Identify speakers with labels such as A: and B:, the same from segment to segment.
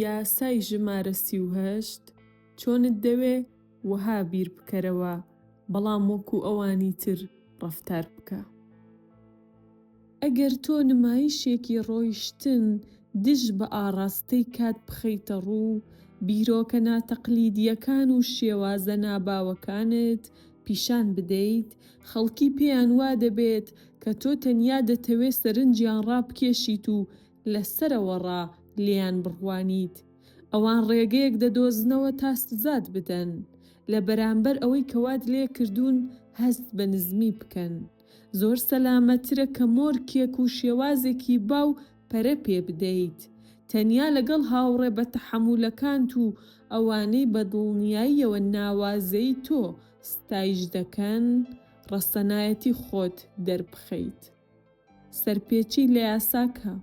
A: یاسای ژمارە سی و هەشت چۆنت دەوێ وەها بیر بکەرەوە بەڵام وەکو ئەوانی تر ڕەفتار بکە. ئەگەر تۆ نمایشێکی ڕۆیشتن دژ بە ئاڕاستەی کات بخەیتە ڕوو، بیرۆکە ناتەقلیدییەکان و شێوازە ناباوەکانت پیشان بدەیت، خەڵکی پێیان وا دەبێت کە تۆ تەنیا دەتەوێت سەرنجیان ڕابکێشیت و لە سەرەوەڕا لێیان بڕوانیت. ئەوان ڕێگەیەک دەدۆزنەوە تا سزات بدەن. لە بەرامبەر ئەوەی کە وات لێ کردوون هەست بە نزمی بکەن. زۆر سەلامەتترە کە مۆرکێک و شێوازێکی باو پەرە پێ بدەیت. تەنیا لەگەڵ هاوڕێ بەتەحەمولەکانت و ئەوانەی بە دڵنیاییەوە ناوازەی تۆ، ستایش دەکەن ڕەسەنایەتی خۆت دەربخەیت سەرپێچی لە یاسا کە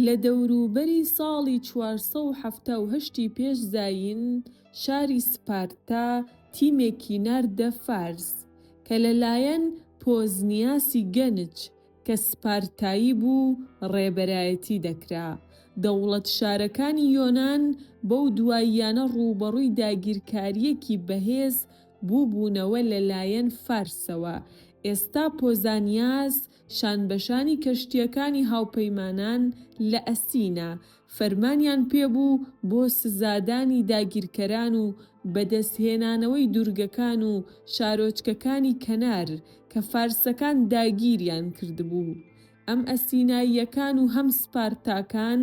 A: لە دەوروبەری ساڵی چوار سەد و حەفتا و هەشت ی پێش زایین شاری سپارتا تیمێکی ناردە فارس کە لەلایەن پۆزنیاسی گەنچ کە سپارتایی بوو ڕێبەرایەتی دەکرا. دەوڵەت-شارەکانی یۆنان بەو دواییانە ڕووبەڕووی داگیرکارییەکی بەهێز بووبوونەوە لەلایەن فارسەوە. ئێستا پۆزانیاس شانبەشانی کەشتییەکانی هاوپەیمانان لە ئەسینا، فەرمانیان پێبوو بۆ سزادانی داگیرکەران و بەدەستهێنانەوەی دورگەکان و شارۆچکەکانی کەنار کە فارسەکان داگیریان کردبوو. ئەم ئەسیناییەکان و هەم سپارتاکان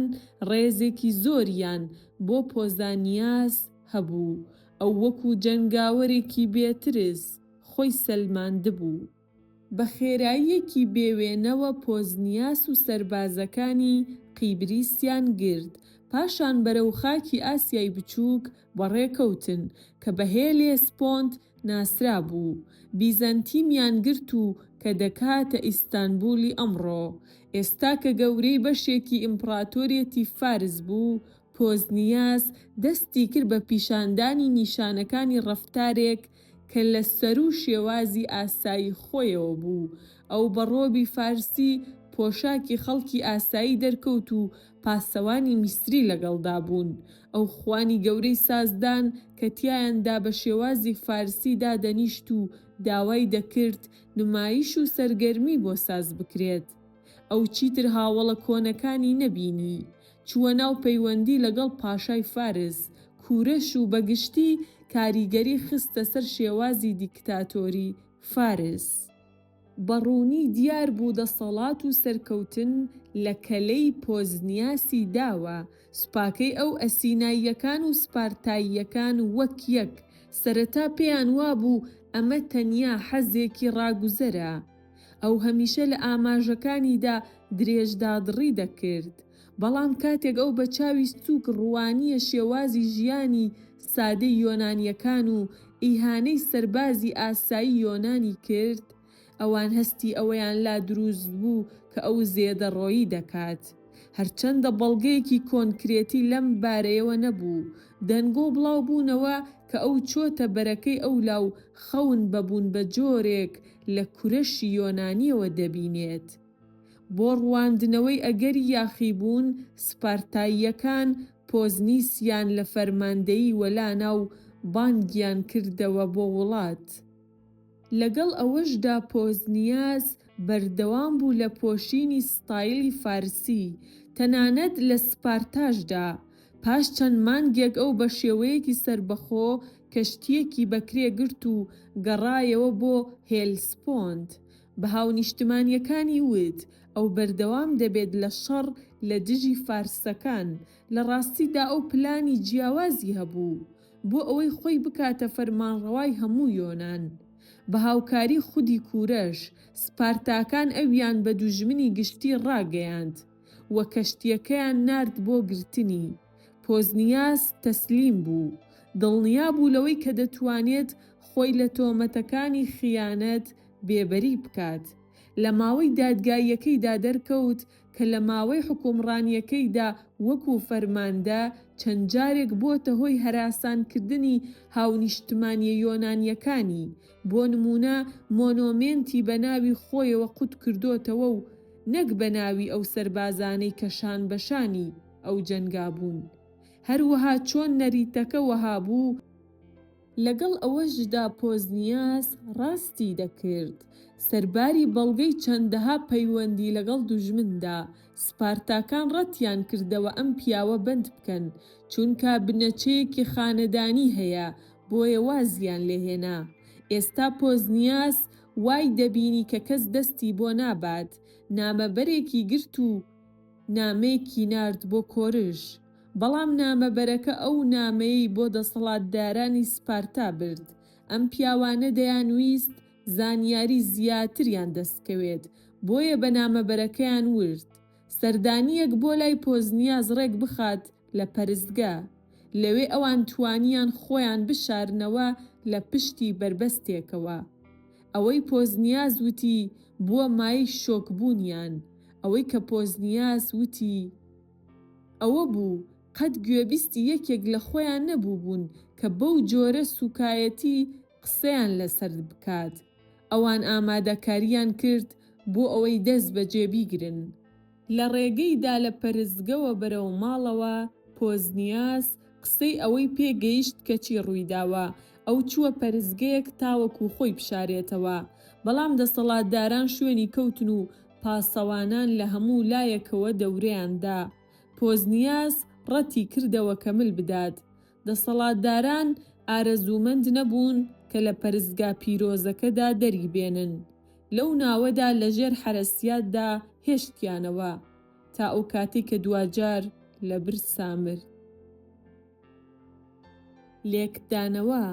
A: ڕێزێکی زۆریان بۆ پۆزانیاس هەبوو، ئەو وەکو جەنگاوەرێکی بێترس خۆی سەلماندبوو. بە خێراییەکی بێ وێنەوە پۆزنیاس و سەربازەکانی قیبریسیان گرت، پاشان بەرەو خاکی ئاسیای بچووک بەڕێکەوتن، کە بە هێلێسپۆنت ناسرابوو، بیزەنتیمیان گرت و کە دەکاتە ئیستانبولی ئەمڕۆ. ئێستا کە گەورەی بەشێکی ئیمپڕاتۆریەتی فارس بوو، پۆزنیاس دەستی کرد بە پیشاندانی نیشانەکانی ڕەفتارێک کە لە سەروو شێوازی ئاسایی خۆیەوە بوو، ئەو بە ڕۆبی فارسی پۆشاکی خەڵکی ئاسایی دەرکەوت و پاسەوانی میسری لەگەڵدا بوون، ئەو خوانی گەورەی سازدان کە تیایاندا بە شێوازی فارسی دادەنیشت و داوای دەکرد نمایش و سەرگەرمی بۆ ساز بکرێت. ئەو چیتر هاوەڵە کۆنەکانی نەبینی، چووە ناو پەیوەندی لەگەڵ پاشای فارس، کوورش و بەگشتی کاریگەری خستە سەر شێوازی دیکتاتۆری فارس. بە ڕوونی دیار بوو دەسەڵات و سەرکەوتن لە کەلەی پۆزنیاسی داوە، سوپاکەی ئەو ئەسیناییەکان و سپارتاییەکان وەک یەک، سەرەتا پێیان وابوو ئەمە تەنیا حەزێکی ڕاگوزەرە، ئەو هەمیشە لە ئاماژەکانیدا درێژدادڕی دەکرد، بەڵام کاتێک ئەو بە چاوی سووک ڕوانییە شێوازی ژیانی سادەی یۆنانییەکان و ئیهانەی سەربازی ئاسایی یۆنانی کرد، ئەوان هەستی ئەوەیان لا دروست بوو کە ئەو زێدەڕۆیی دەکات. هەرچەندە بەڵگەیەکی کۆنکرێتی لەم بارەیەوە نەبوو، دەنگۆ بڵاو بوونەوە کە ئەو چۆتە بەرەکەی ئەولا و خەون بە بوون بە جۆرێک لە کورەشی یۆنانییەوە دەبینێت. بۆ ڕوواندنەوەی ئەگەری یاخیبوون، سپارتاییەکان پۆزنیسیان لە فەرماندەیی وەلانا و بانگیان کردەوە بۆ وڵات. لەگەڵ ئەوەشدا پۆزنیاس بەردەوام بوو لە پۆشینی ستایلی فارسی، تەنانەت لە سپارتاشدا، پاش چەند مانگێک ئەو بە شێوەیەکی سەربەخۆ کەشتییەکی بەکرێ گرت و گەڕایەوە بۆ هێلسپۆند. بە هاونیشتمانییەکانی وت، ئەو بەردەوام دەبێت لە شەڕ لە دژی فارسەکان، لە ڕاستیدا ئەو پلانی جیاوازی هەبوو، بۆ ئەوەی خۆی بکاتە فەرمانڕەوای هەموو یۆنان. بە هاوکاری خودی کوورەش، سپارتاکان ئەویان بە دوژمنی گشتی ڕاگەیاند. و کەشتییەکەیان نارد بۆ گرتنی. پۆزنیاس تەسلیم بوو. دڵنیا بوو لەوەی کە دەتوانێت خۆی لە تۆمەتەکانی خیانەت بێبەری بکات. لە ماوەی دادگاییەکەیدا دەرکەوت کە لە ماوەی حوکمڕانییەکەیدا وەکوو فەرماندە چەند جارێک بۆتە هۆی هەراسانکردنی هاونیشتمانییە یۆنانییەکانی بۆ نموونە مۆنۆمێنتی بە ناوی خۆیەوە قوت کردۆتەوە و نەک بە ناوی ئەو سەربازانەی کە شانبەشانی ئەو جەنگا بوون. هەروەها چۆن نەریتەکە وەها بوو، لەگەڵ ئەوەشدا پۆزنیاس ڕاستی دەکرد سەرباری بەڵگەی چەندەها پەیوەندی لەگەڵ دوژمندا، سپارتاکان ڕەتیان کردەوە ئەم پیاوە بەند بکەن چونکا بنەچەیەکی خانەدانی هەیە بۆیە وازیان لێ هێنا. ئێستا پۆزنیاس وای دەبینی کە کەس دەستی بۆ نابات، نامەبەرێکی گرت و نامەیەکی نارد بۆ کۆرش. بەڵام نامەبەرەکە ئەو نامەیەی بۆ دەسەڵاتدارانی سپارتا برد. ئەم پیاوانە دەیانویست زانیاری زیاتریان دەست کەوێت، بۆیە بە نامەبەرەکەیان ورد سەردانییەک بۆ لای پۆزنیاز ڕێک بخات لە پەرستگە، لەوێ ئەوان توانیان خۆیان بشارنەوە لە پشتی بەربەستێکەوە. ئەوەی پۆزنیاز وتی بووە مایەی شۆکبوونیان، ئەوەی کە پۆزنیاز وتی ئەوە بوو، قەت گوێبیستی یەکێک لە خۆیان نەبووبوون کە بەو جۆرە سووکایەتی قسەیان لەسەر بکات، ئەوان ئامادەکارییان کرد بۆ ئەوەی دەست بەجێ بیگرن. لە ڕێگەیدا لە پەرستگەوە بەرەو ماڵەوە، پۆزنیاس قسەی ئەوەی پێ گەیشت کە چی ڕوویداوە، ئەو چووە پەرستگەیەک تاوەکو خۆی بشارێتەوە، بەڵام دەسەڵاتداران شوێنی کەوتن و پاسەوانان لە هەموو لایەکەوە دەورەیان دا. پۆزنیاس ڕەتی کردەوە کە مل بدات. دەسەڵاتداران ئارەزوومەند نەبوون کە لە پەرستگا پیرۆزەکەدا دەری بێنن، لەو ناوەدا لە ژێر حەرەسیاتدا هێشتیانەوە، تا ئەو کاتەی کە دواجار لە برسا مرد. لێکدانەوە،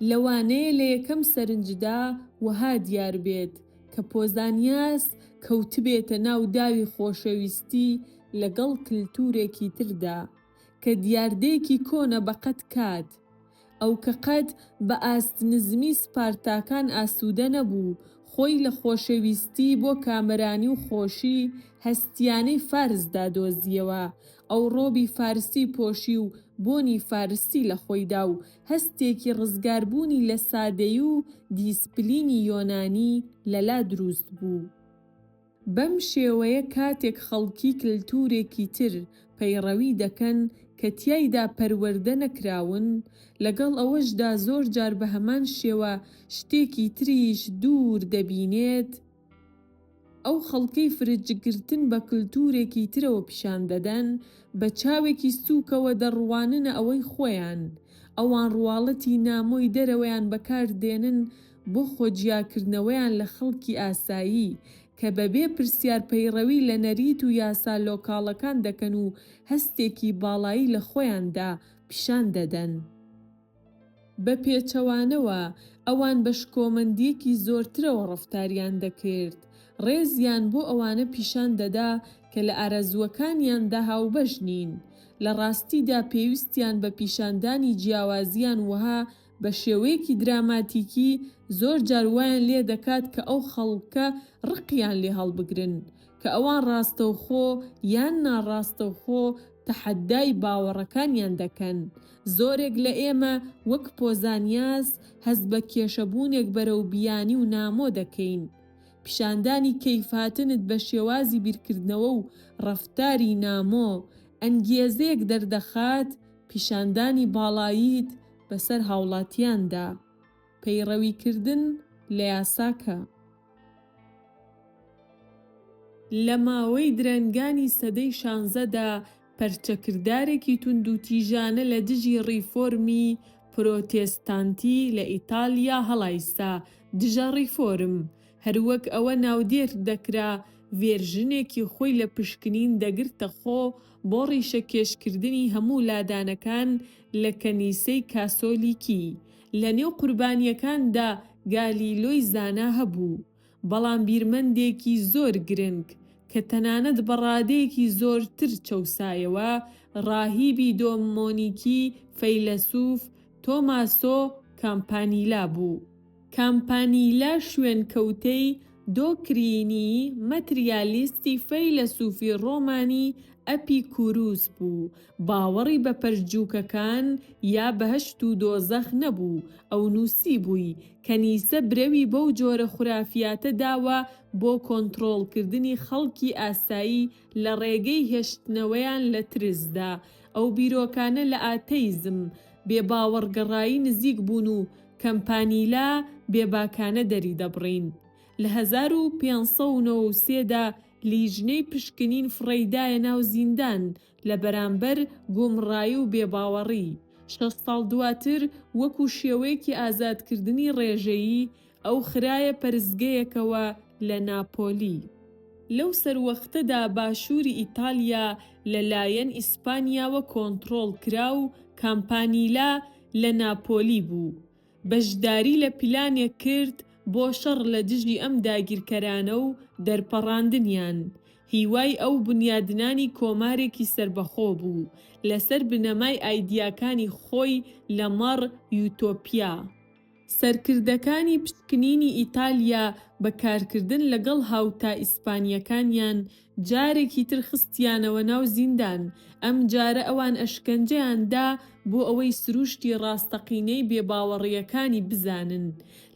A: لەوانەیە لە یەکەم سەرنجدا وەها دیار بێت کە پۆزانیاس کەوتبێتە ناو داوی خۆشەویستی لەگەڵ کلتورێکی تردا، کە دیاردەیەکی کۆنە بە قەد کات، ئەو کە قەد بە ئاست نزمی سپارتاکان ئاسوودە نەبوو، خۆی لە خۆشەویستی بۆ کامەرانی و خۆشی هەستییانەی فارسدا دۆزییەوە، ئەو ڕۆبی فارسی پۆشی و بۆنی فارسی لە خۆیدا و هەستێکی ڕزگاربوونی لە سادەیی و دیسپلینی یۆنانی لەلا دروست بوو. بەم شێوەیە کاتێک خەڵکی کلتورێکی تر پەیڕەوی دەکەن کە تیایدا پەروەردە نەکراون، لەگەڵ ئەوەشدا زۆر جار بە هەمان شێوە شتێکی تریش دوور دەبینێت، ئەو خەڵکەی فرجگرتن بە کلتورێکی ترەوە پیشان دەدەن، بە چاوێکی سوکەوە دەڕواننە ئەوەی خۆیان، ئەوان ڕواڵەتی نامۆی دەرەوەیان بەکار دێنن بۆ خۆجیاکردنەوەیان لە خەڵکی ئاسایی، کە بەبێ پرسیار پەیڕەوی لە نەریت و یاسا لۆکاڵەکان دەکەن و هەستێکی باڵایی لە خۆیاندا پیشان دەدەن. بە پێچەوانەوە، ئەوان بە شکۆمەندییەکی زۆرترەوە ڕەفتاریان دەکرد، ڕێزیان بۆ ئەوانە پیشان دەدا کە لە ئارەزووەکانیاندا هاوبەش نین، لە ڕاستیدا پێویستیان بە پیشاندانی جیاوازییان وەها بە شێوەیەکی دراماتیکی زۆر جار وایان لێ دەکات کە ئەو خەڵکە ڕقیان لێ هەڵبگرن کە ئەوان ڕاستەوخۆ یان ناڕاستەوخۆ تەحەدای باوەڕەکانیان دەکەن. زۆرێک لە ئێمە وەک پۆزانیاس هەست بە کێشەبوونێک بەرەو بیانی و نامۆ دەکەین. پیشاندانی کەیفهاتنت بە شێوازی بیرکردنەوە و ڕەفتاری نامۆ، ئەنگیێزەیەک دەردەخات پیشاندانی باڵاییت بەسەر هاوڵاتیاندا، پەیڕەویکردن لە یاساکە. لە ماوەی درەنگانی سەدەی شانزەدا پەرچەکردارێکی توندوتیژانە لە دژی ڕیفۆرمی پرۆتێستانتی لە ئیتالیا هەڵایسا، دژە ڕیفۆرم، هەروەک ئەوە ناودێردەکرا، ڤێرژنێکی خۆی لە پشکنین دەگرتەخۆ، بۆ ڕیشەکێشکردنی هەموو لادانەکان لە کەنیسەی کاسۆلیکی. لە نێو قوربانییەکاندا گالیلۆی زانا هەبوو، بەڵام بیرمەندێکی زۆر گرنگ، کە تەنانەت بە ڕادەیەکی زۆرتر چەوسایەوە، ڕاهیبی دۆمۆنیکی فەیلەسووف تۆماسۆ کامپانیلا بوو. کامپانیلە شوێنکەوتەی دۆکرینی ماتریالیستی فەیلەسوفی ڕۆمانی ئەپیکوروس بوو، باوەڕی بە پەرجووکەکان یا بەهەشت و دۆزەخ نەبوو، ئەو نووسیبووی، کەنیسە برەوی بەو جۆرە خورافیاتە داوە بۆ کۆنترۆڵکردنی خەڵکی ئاسایی لە ڕێگەی هێشتنەوەیان لە ترسدا، ئەو بیرۆکانە لە ئاتەیزم، بێباوەڕگەڕایی نزیک بوون و کەمپانیلا بێباکانە دەریدەبڕین. لە هەزار و پێنج سەد و نەوە و سێ دا لیژنەی پشکنین فڕێی دایە ناو زیندان لە بەرامبەر گومڕایی و بێباوەڕی، شەست ساڵ دواتر وەکو شێوەیەکی ئازادکردنی ڕێژەیی، ئەو خرایە پەرستگەیەکەوە لە ناپۆلی. لەو سەروەختەدا باشووری ئیتالیا لە لایەن ئیسپانیاوە کۆنتڕۆڵ کرا و کامپانیلا لە ناپۆلی بوو، بەشداری لە پیلانێک کرد بۆ شەڕ لە دژی ئەم داگیرکەرانە و دەرپەڕاندنیان. هیوای ئەو بنیادنانی کۆمارێکی سەربەخۆ بوو، لەسەر بنەمای ئایدیاکانی خۆی لەمەڕ یوتۆپیا. سەرکردەکانی پشکنینی ئیتالیا بە کارکردن لەگەڵ هاوتا ئیسپانییەکانیان جارێکی تر خستیانەوە ناو زیندان، ئەمجارە ئەوان ئەشکەنجەیان دا بۆ ئەوەی سرووشتی ڕاستەقینەی بێباوەڕییەکانی بزانن.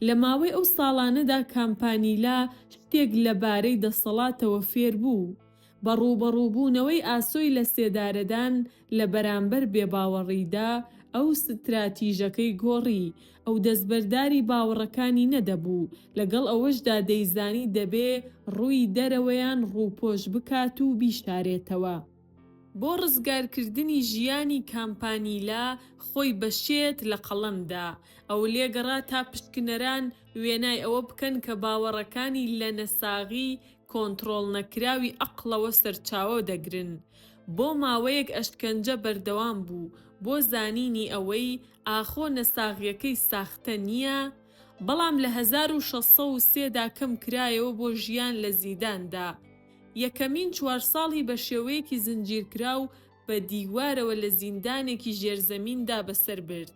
A: لە ماوەی ئەو ساڵانەدا کامپانیلا شتێک لەبارەی دەسەڵاتەوە فێر بوو. بە ڕووبەڕووبوونەوەی ئاسۆی لەسێدارەدان لە بەرامبەر بێباوەڕیدا، ئەو ستراتیژەکەی گۆڕی، ئەو دەستبەرداری باوەڕەکانی نەدەبوو، لەگەڵ ئەوەشدا دەیزانی دەبێ ڕووی دەرەوەیان ڕووپۆش بکات و بیشارێتەوە. بۆ ڕزگارکردنی ژیانی کامپانیلا خۆی بە شێت لە قەڵەم دا. ئەو لێگەڕا تا پشکنەران وێنای ئەوە بکەن کە باوەڕەکانی لە نەساغی کۆنتڕۆڵنەکراوی ئەقڵەوە سەرچاوە دەگرن. بۆ ماوەیەک ئەشکەنجە بەردەوام بوو بۆ زانینی ئەوەی ئاخۆ نەساغیەکەی ساختە نییە، بەڵام لە هەزار و شەش سەد و سێ دا کەم کرایەوە بۆ ژیان لە زیداندا. یەکەمین چوار ساڵی بە شێوەیەکی زنجیرکراو بە دیوارەوە لە زیندانێکی ژێرزەمیندا بەسەر برد.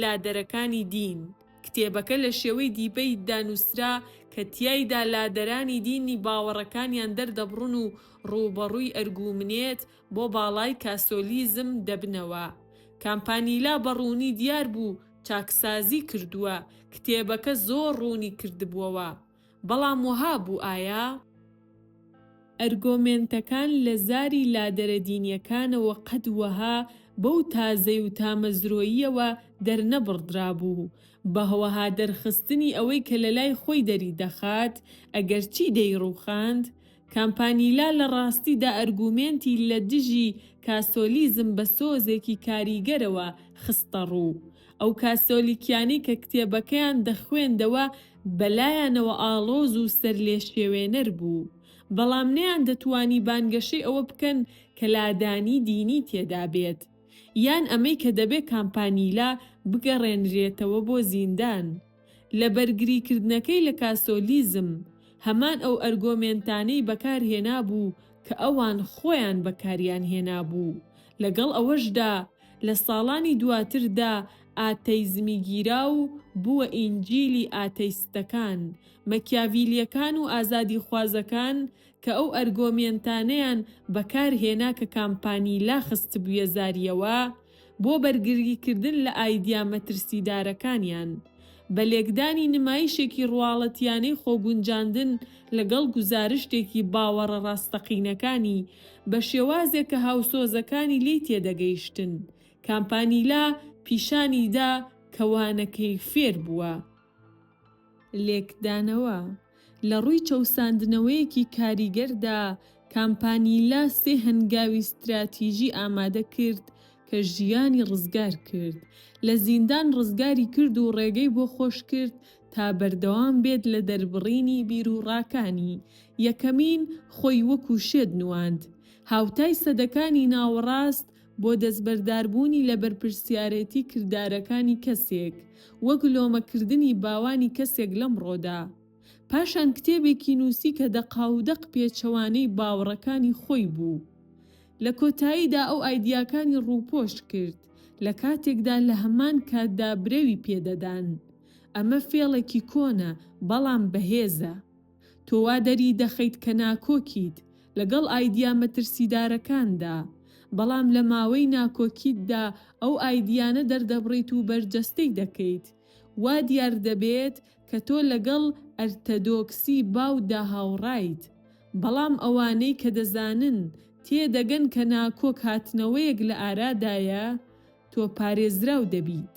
A: لادەرەکانی دین، کتێبەکە لە شێوەی دیبەیتدا نووسرا کە تیایدا لادەرانی دینی باوەڕەکانیان دەردەبڕن و ڕووبەڕووی ئەرگوومنێت بۆ باڵای کاسۆلیزم دەبنەوە. کامپانیلا بە ڕوونی دیار بوو چاکسازی کردووە، کتێبەکە زۆر ڕوونی کردبووەوە. بەڵام وەها بوو ئایا ئەرگۆمێنتەکان لە زاری لادەرە دینیەکانەوە قەت وەها بەو تازەی و تامەزرۆییەوە دەرنەبڕدرابوو بەهوەها دەرخستنی ئەوەی کە لەلای خۆی دەری دەخات ئەگەرچی دەیڕوخاند کامپانیلا لە ڕاستیدا ئەرگومێنتی لە دژی کاسۆلیزم بە سۆزێکی کاریگەرەوە خستەڕوو. ئەو کاسۆلیکیانەی کە کتێبەکەیان دەخوێندەوە بەلایانەوە ئاڵۆز و سەرلێشێوێنەر بوو، بەڵام نەیاندەتوانی بانگەشەی ئەوە بکەن کە لادانی دینی تێدا بێت، یان ئەمەی کە دەبێت کامپانیلا بگەڕێنرێتەوە بۆ زیندان. لە بەرگریکردنەکەی لە کاسۆلیزم، هەمان ئەو ئەرگۆمێنتانەی بەکارهێنابوو کە ئەوان خۆیان بەکاریان هێنابوو، لەگەڵ ئەوەشدا لە ساڵانی دواتردا ئاتەیزمی گیرا و بووە ئینجیلی ئاتەیستەکان، مەکیاڤیلیەکان و ئازادیخوازەکان کە ئەو ئەرگۆمێنتانەیان بەکارهێنا کە کامپانیلا خستبوویە زارییەوە، بۆ بەرگریکردن لە ئایدیا مەترسیدارەکانیان، بە لێکدانی نمایشێکی ڕواڵەتییانەی خۆگونجاندن لەگەڵ گوزارشتێکی باوەڕە ڕاستەقینەکانی بە شێوازێک کە هاوسۆزەکانی لێی تێدەگەیشتن، کامپانیلا پیشانی دا کە وانەکەی فێر بووە. لێکدانەوە، لە ڕووی چەوساندنەوەیەکی کاریگەردا، کامپانیلا سێ هەنگاوی ستراتیژی ئامادە کرد کە ژیانی ڕزگار کرد، لە زیندان ڕزگاری کرد و ڕێگەی بۆ خۆش کرد تا بەردەوام بێت لە دەربڕینی بیروڕاکانی، یەکەمین خۆی وەکو شێت نواند، هاوتای سەدەکانی ناوەڕاست، بۆ دەستبەرداربوونی لە بەرپرسیارێتی کردارەکانی کەسێک، وەک لۆمەکردنی باوانی کەسێک لەمڕۆدا. پاشان کتێبێکی نووسی کە دەقاودەق پێچەوانەی باوەڕەکانی خۆی بوو. لە کۆتاییدا ئەو ئایدیاکانی ڕووپۆش کرد، لە کاتێکدا لە هەمان کاتدا برەوی پێدەدان. ئەمە فێڵێکی کۆنە، بەڵام بەهێزە. تۆ وا دەری دەخەیت کە ناکۆکیت لەگەڵ ئایدیا مەترسیدارەکاندا، بەڵام لە ماوەی ناکۆکیتدا ئەو ئایدیانە دەردەبڕیت و بەرجەستەی دەکەیت. وا دیار دەبێت کە تۆ لەگەڵ ئەرتەدۆکسی باودا هاوڕایت. بەڵام ئەوانەی کە دەزانن تێدەگەن کە ناکۆک هاتنەوەیەک لە ئارادایە، تۆ پارێزراو دەبیت.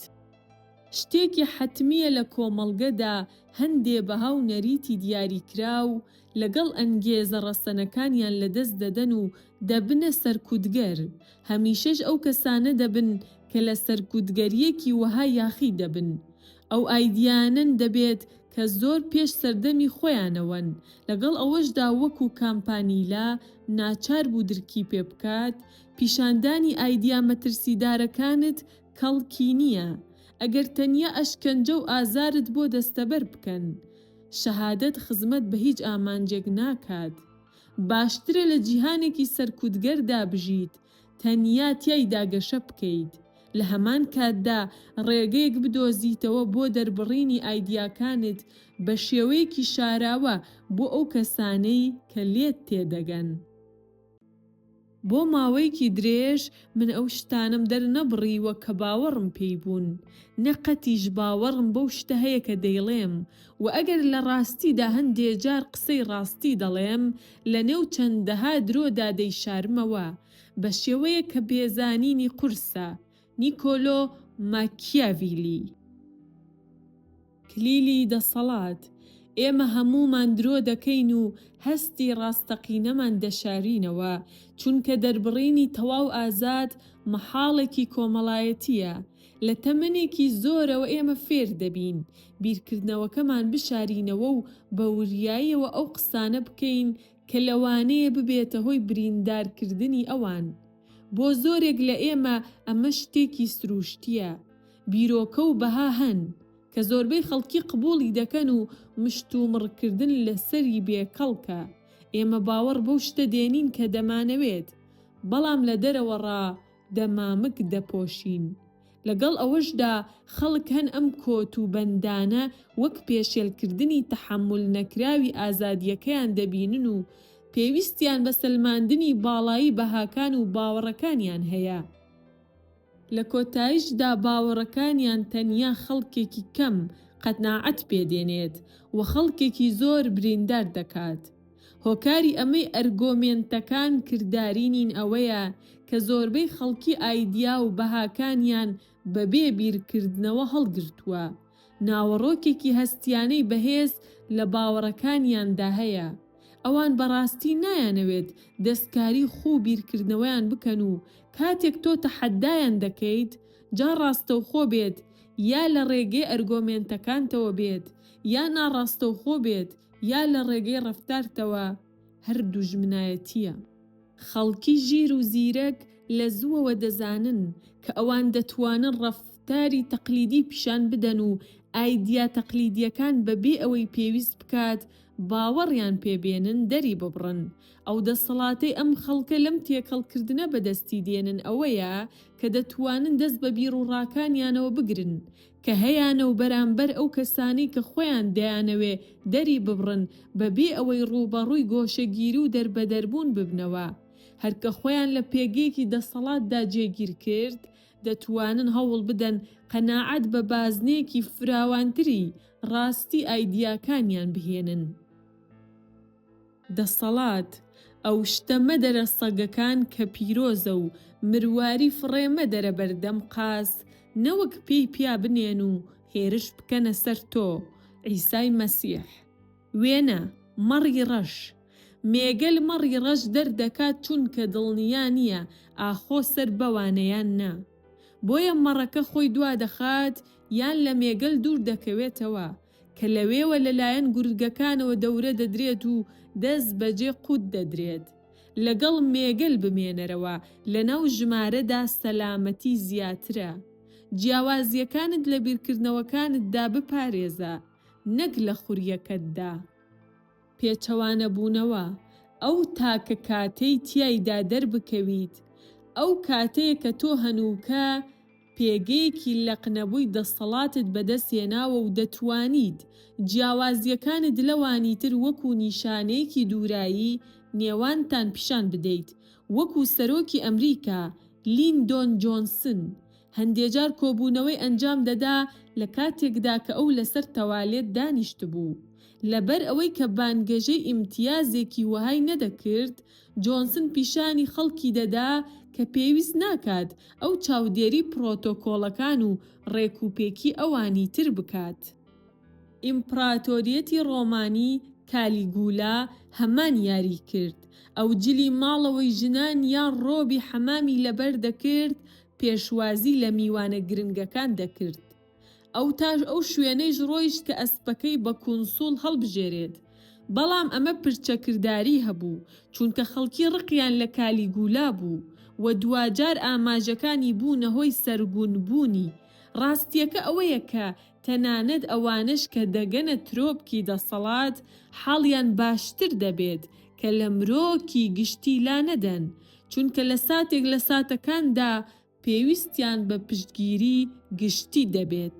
A: شتێکی حەتمییە لە کۆمەڵگەدا هەندێ بەها و نەریتی دیاریکراو لەگەڵ ئەنگێزە ڕەسەنەکانیان لەدەست دەدەن و دەبنە سەرکوتگەر، هەمیشەش ئەو کەسانە دەبن کە لە سەرکوتگەرییەکی وەها یاخی دەبن. ئەو ئایدیایانەن دەبێت کە زۆر پێش سەردەمی خۆیانەوەن، لەگەڵ ئەوەشدا وەکو کامپانیلا ناچار بوو درکی پێ بکات، پیشاندانی ئایدیا مەترسیدارەکانت کەڵکی نییە، ئەگەر تەنیا ئەشکەنجە و ئازارت بۆ دەستەبەر بکەن. شەهادەت خزمەت بە هیچ ئامانجێک ناکات. باشترە لە جیهانێکی سەرکوتگەردا بژیت، تەنیا تیایدا گەشە بکەیت، لە هەمان کاتدا ڕێگەیەک بدۆزیتەوە بۆ دەربڕینی ئایدیاکانت بە شێوەیەکی شاراوە بۆ ئەو کەسانەی کە لێت تێدەگەن. بۆ ماوەیەکی درێژ من ئەو شتانەم دەرنەبڕیوە کە باوەڕم پێی بوون، نە قەتیش باوەڕم بەو شتە هەیە کە دەیڵێم، وە ئەگەر لە ڕاستیدا هەندێ جار قسەی ڕاستی دەڵێم، لە نێو چەندەها درۆدا دەیشارمەوە، بە شێوەیەک کە بێزانینی قورسە. نیکۆلۆ ماکیاڤیلی. کلیلی دەسەڵات، ئێمە هەموومان درۆ دەکەین و هەستی ڕاستەقینەمان دەشارینەوە، چونکە دەربڕینی تەواو ئازاد مەحاڵێکی کۆمەڵایەتییە. لە تەمەنێکی زۆرەوە ئێمە فێر دەبین بیرکردنەوەکەمان بشارینەوە و بە وریاییەوە ئەو قسانە بکەین کە لەوانەیە ببێتە هۆی بریندارکردنی ئەوان. بۆ زۆرێک لە ئێمە ئەمە شتێکی سرووشتییە. بیرۆکە و بەها هەن کە زۆربەی خەڵکی قبوڵی دەکەن و مشتومڕکردن لەسەری بێ کەڵکە، ئێمە باوەڕ بەو شتە دێنین کە دەمانەوێت، بەڵام لە دەرەوەڕا دەمامک دەپۆشین. لەگەڵ ئەوەشدا خەڵک هەن ئەم کۆت و بەندانە وەک پێشێلکردنی تەحەمول نەکراوی ئازادییەکەیان دەبینن و پێویستیان بە سەلماندنی باڵایی بەهاکان و باوەڕەکانیان هەیە. لە کۆتایشدا باوەڕەکانیان تەنیا خەڵکێکی کەم قەناعەت پێ دێنێت و خەڵکێکی زۆر بریندار دەکات. هۆکاری ئەمەی ئەرگۆمێنتەکان کرداری نین ئەوەیە کە زۆربەی خەڵکی ئایدیا و بەهاکانیان بەبێ بیرکردنەوە هەڵگرتووە ناوەڕۆکێکی هەستییانەی بەهێز لە باوەڕەکانیاندا هەیە، ئەوان بەڕاستی نایانەوێت دەستکاری خوو بیرکردنەوەیان بکەن و کاتێک تۆ تەحەدایان دەکەیت، جا ڕاستەوخۆ بێت یا لە ڕێگەی ئەرگۆمێنتەکانتەوە بێت یا ناڕاستەوخۆ بێت یا لە ڕێگەی ڕەفتارتەوە، هەر دوژمنایەتییە. خەڵکی ژیر و زیرەک لە زووەوە دەزانن کە ئەوان دەتوانن ڕەفتاری تەقلیدی پیشان بدەن و ئایدیا تەقلیدییەکان بە بێ ئەوەی پێویست بکات باوەڕیان پێ بێنن دەری ببڕن. ئەو دەسەڵاتەی ئەم خەڵکە لەم تێکەڵکردنە بەدەستی دێنن ئەوەیە کە دەتوانن دەست بە بیروڕاکانیانەوە بگرن کە هەیانە و بەرامبەر ئەو کەسانەی کە خۆیان دەیانەوێ دەری ببڕن بە بێ ئەوەی ڕووبەڕووی گۆشەگیری و دەربەدەربوون ببنەوە. هەر کە خۆیان لە پێگەیەکی دەسەڵاتدا جێگیر کرد، دەتوانن هەوڵ بدەن قەناعەت بە بازنەیەکی فراوانتری ڕاستی ئایدیاکانیان بهێنن. دەسەڵات، ئەو شتە مەدەرە سەگەکان کە پیرۆزە و مرواری فڕێ مەدەرە بەردەم قاز، نەوەک پێی پیا بنێن و هێرش بکەنە سەر تۆ، عیسای مەسیح. وێنە، مەڕی ڕەش. مێگەل مەڕی ڕەش دەردەکات چونکە دڵنیا نییە ئاخۆ سەر بەوانە یان نا. بۆیە مەڕەکە خۆی دوا دەخات یان لە مێگەل دوور دەکەوێتەوە، کە لەوێوە لەلایەن گورگەکانەوە دەورە دەدرێت و دەست بەجێ قوت دەدرێت. لەگەڵ مێگەل بمێنەرەوە لەناو ژمارەدا سەلامەتی زیاترە. جیاوازییەکانت لە بیرکردنەوەکانتدا بپارێزە، نەک لە خورییەکەتدا. پێچەوانەبوونەوە، ئەو تاکە کاتەی تیایدا دەربکەویت، ئەو کاتەیە کە تۆ هەنووکە، پێگەیەکی لەقنەبووی دەستەڵاتت بەدەست هێناوە و دەتوانیت جیاوازییەکانت لەوانیتر وەکو نیشانەیەکی دوورایی نێوانتان پیشان بدەیت، وەکو سەرۆکی ئەمریکا لیندۆن جۆنسن هەندێجار کۆبوونەوەی ئەنجام دەدا لە کاتێکدا کە ئەو لەسەر تەوالێت دانیشتبوو لەبەر ئەوەی کە بانگەشەی ئیمتیازێکی وەهای نەدەکرد جۆنسن پیشانی خەڵکی دەدا کە پێویست ناکات ئەو چاودێری پڕۆتۆکۆڵەکان و ڕێکوپێکی ئەوانی تر بکات. ئیمپڕاتۆریەتی ڕۆمانی کالیگولا هەمان یاری کرد، ئەو جلی ماڵەوەی ژنان یان ڕۆبی حەمامی لەبەر دەکرد، پێشوازی لە میوانە گرنگەکان دەکرد، ئەوتاش ئەو شوێنەیش ڕۆیشت کە ئەسپەکەی بە کونسوڵ هەڵبژێرێت، بەڵام ئەمە پرچەکرداری هەبوو، چونکە خەڵکی ڕقیان لە کالیگولا بوو و دواجار ئاماژەکانی بوونە هۆی سەرگونبوونی. ڕاستییەکە ئەوەیە کە تەنانەت ئەوانەش کە دەگەنە ترۆپکی دەسەڵات، حاڵیان باشتر دەبێت کە لە مرۆکی گشتی لانەدەن، چونکە لە ساتێک لە ساتەکاندا پێویستیان بە پشتگیری گشتی دەبێت.